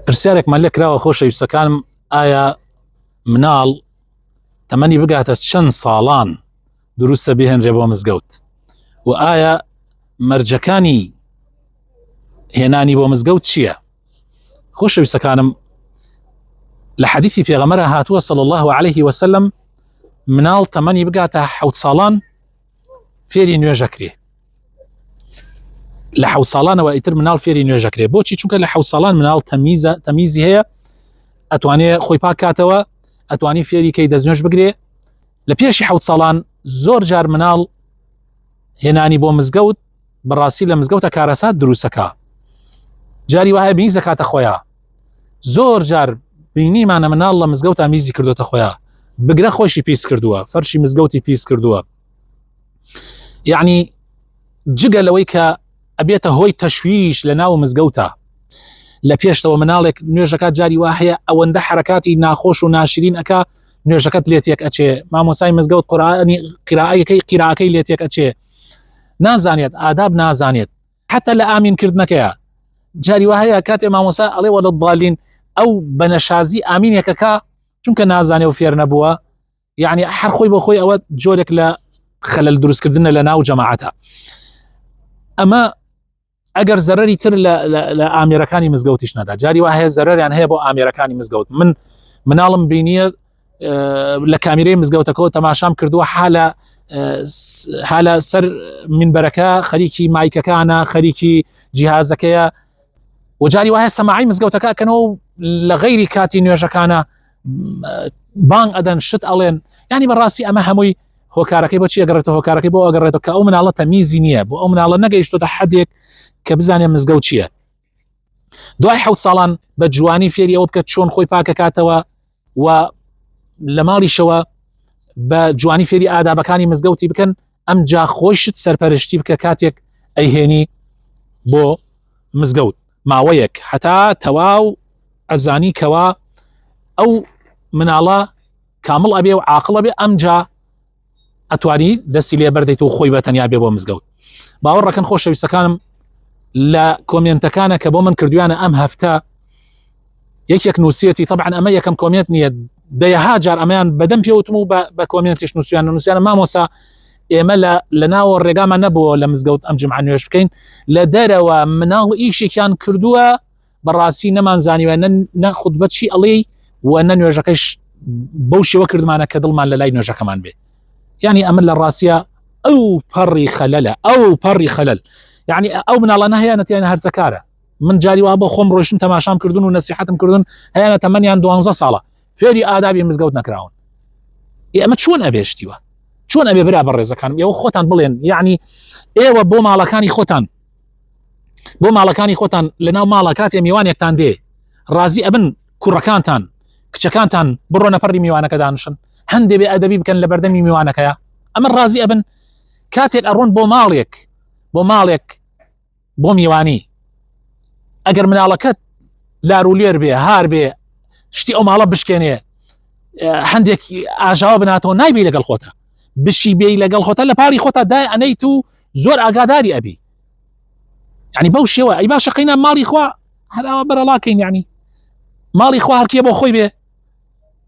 پرسیارێکمان لێ کراوە خۆشەویستەکانم ئایا مناڵ تەمەنی بگاتە چەند ساڵان دروستە بهێنرێ بۆ مزگەوت و ئایا مەرجەکانی هێنانی بۆ مزگەوت چییە خۆشەویستەکانم لە حەدیثی پێغەمەرە هاتووە سەڵ الله عليه وسلم مناڵ تەمەنی بگاتە حوت ساڵان فێری نوێژەکرێ لە حەوت ساڵانەوە ئیتر مناڵ فێری نوێژەکرێ بۆچی چونکە لە حەوت ساڵان مناڵ تەمیزە تەمیزی هەیە ئەتوانێ خۆی پاکاتەوە ئەتوانی فێری کەی دەستنوێش بگرێ لە پێشی حەوت ساڵان زۆر جار مناڵ هێنانی بۆ مزگەوت بەڕاستی لە مزگەوتە کارەسات دروستەکە جاری وایە بینی زەکاتە خۆیان زۆر جار بینیمانە مناڵ لە مزگەوت ئامیزی کردوتە خۆیان بگرە خۆشی پیس کردووە فەرشی مزگەوتی پیس کردووە یعنی جگە لەوەی کە ئەبێتە هۆی تەشویش لە ناو مزگەوتە لە پێشتەوە مناڵێک نوێژەکە جاری وا هەیە ئەوەندە حرکاتی ناخۆش و ناشرین ئەک نوێژەکەت لێتێک ئەچێ مامۆسای مزگەوت قورآانی قراەکەی قیراکەی لێتێک ئەچێ نازانێت ئاداب نازانێت حتا لە ئامین کردنەکەیە جاری وهەیە کاتێ مامۆسا ئەڵێ وە لە بالین ئەو بەنەشازی ئامینێکەکە چونکە نازانێ و فێر نەبووە یعنی هەر خۆی بۆ خۆی ئەوە جۆرێک لە خەلل دروستکردنە لە ناو جەماعاتە ئەمە ئەگەر زەرری تر لە ئامێرەکانی مزگەوتیش نەدا جاری وا هەیە زەرریان هەیە بۆ ئامێرەکانی مزگەوت من مناڵم بینیە لە کامیرەی مزگەوتەکەەوە تەماشام کردووە حالە حالە سەر منبەرەکە خەریکی مایکەکانە خەریکی جیهازەکەیە وەجاری وایە سەماعی مزگەوتەکە کەنەوە لە غەیری کاتی نوێژەکانە بانگ ئەدەن شت ئەڵێن ینی بەڕاستی ئەمە هەمووی هۆکارەکەی بۆ چیەگەڕێتە هۆکارەکەی بۆ ئەگەڕێتەوە کە ئەو مناڵە تەمیزی نییە بۆ ئەو مناڵە نەگەیشتۆتە حدێک کە بزانێ مزگەوت چییە دوای حوت ساڵان بە جوانی فێری ئەوە بکە چۆن خۆی پاکەکاتەوە و لە ماڵیشەوە بە جوانی فێری ئادابەکانی مزگەوتی بکەن ئەم جا خۆشت سەرپەرشتی بکە کاتێک ئەیهێنی بۆ مزگەوت ماوەیەک هەتا تەواو ئەزانی کەوا ئەو مناڵە کامڵ ئەبێ و عاقڵە بێ ئەم جا ئەتوانی دەستی لێ بەردەیت و خۆی بە تەنیا بێ بۆ مزگەوت باوەڕەکەن خۆشەویستەکانم لە کۆمێنتەکانە کە بۆ من کردویانە ئەم هەفتە یەکێک نووسەتی طبعا ئەمە یەکەم کۆمێنت نییە دەیەها جار ئەمەیان بەدەم پێوتم و بە کۆمێنتیش نووسیان نووسیانە مامۆسا ئێمە لە ناوە ڕێگامان نەبووە لە مزگەوت ئەم جمعان نوێش بکەین لە دەرەوە مناڵ ئیشێکیان کردووە بەڕاستی نەمان زانیوە نە خود بە چی ئەڵێ و نە نوێژەکەش بەو شێوە کردمانە کە دڵمان لە لای نوێژەکەمان بێ ینی ئەمن لە ڕاستە ئەو پەڕی خەلەلە ئەو پەڕی خەلەل یعنی ئەو مناڵانە هەیە نەتیان هەرزەکارە من جاری وا بۆ خۆم ڕۆشتن تەماشام کردن و نسیحتم کردن هەیەە تەمەنیان دوانزە ساڵە فێری ئادابی مزگەوت نەکراون ئێمە چۆن ئەبێشتیوە چۆن ئەبێ برا بە ڕێزەکانم ئێوە خۆتان بڵێن یعنی ئێوە بۆ ماڵەکانی خۆتان بۆ ماڵەکانی خۆتان لەناو ماڵە کاتێ میوانێکتان دێ ڕازی ئەبن کوڕەکانتان کچەکانتان بڕۆ نەپەری میوانەکە دانشن هەندێ بێ ئەدەبی بکەن لە بەردەمی میوانەکەیە ئەمە ڕازی ئەبن کاتێک ئەڕۆن بۆ ماڵێک بۆ ماڵێک بۆ میوانی ئەگەر مناڵەکەت لارولێر بێ هار بێ شتی ئەو ماڵە بشکێنێ هەندێک ئاژاوە بناتەوە نایبی لەگەڵ خۆتە بشی بێ لەگەڵ خۆتە لە پاری خۆتا دای ئەنەیت و زۆر ئاگاداری ئەبی ینی بەو شێوە ئەی باشە قینا ماڵی خوا هەراوە بەرەڵاکەین ینی ماڵی خوا هەرکیە بۆ خۆی بێ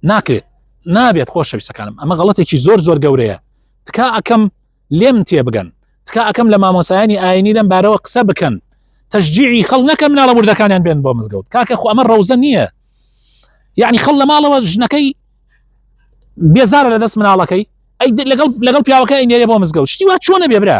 ناکرێت نابێت خۆشەویستەکانم ئەمە غڵەتێکی زۆر زۆر گەورەیە تکا ئەەکەم لێم تێبگەن تکا ئەکەم لە مامۆسایانی ئاینی لەم بارەوە قسە بکەن تەشجیعی خەڵ نەکەن مناڵە وردەکانیان بێن بۆ مزگەوت کاکە خۆ ئەمە ڕەوزە نییە یعنی خەڵ لە ماڵەوە ژنەکەی بێزارە لە دەست مناڵەکەی لەگەڵ لەگەڵ پیاوەکە ئەینێرێ بۆ مزگەوت شتی وا چۆنە بێ برا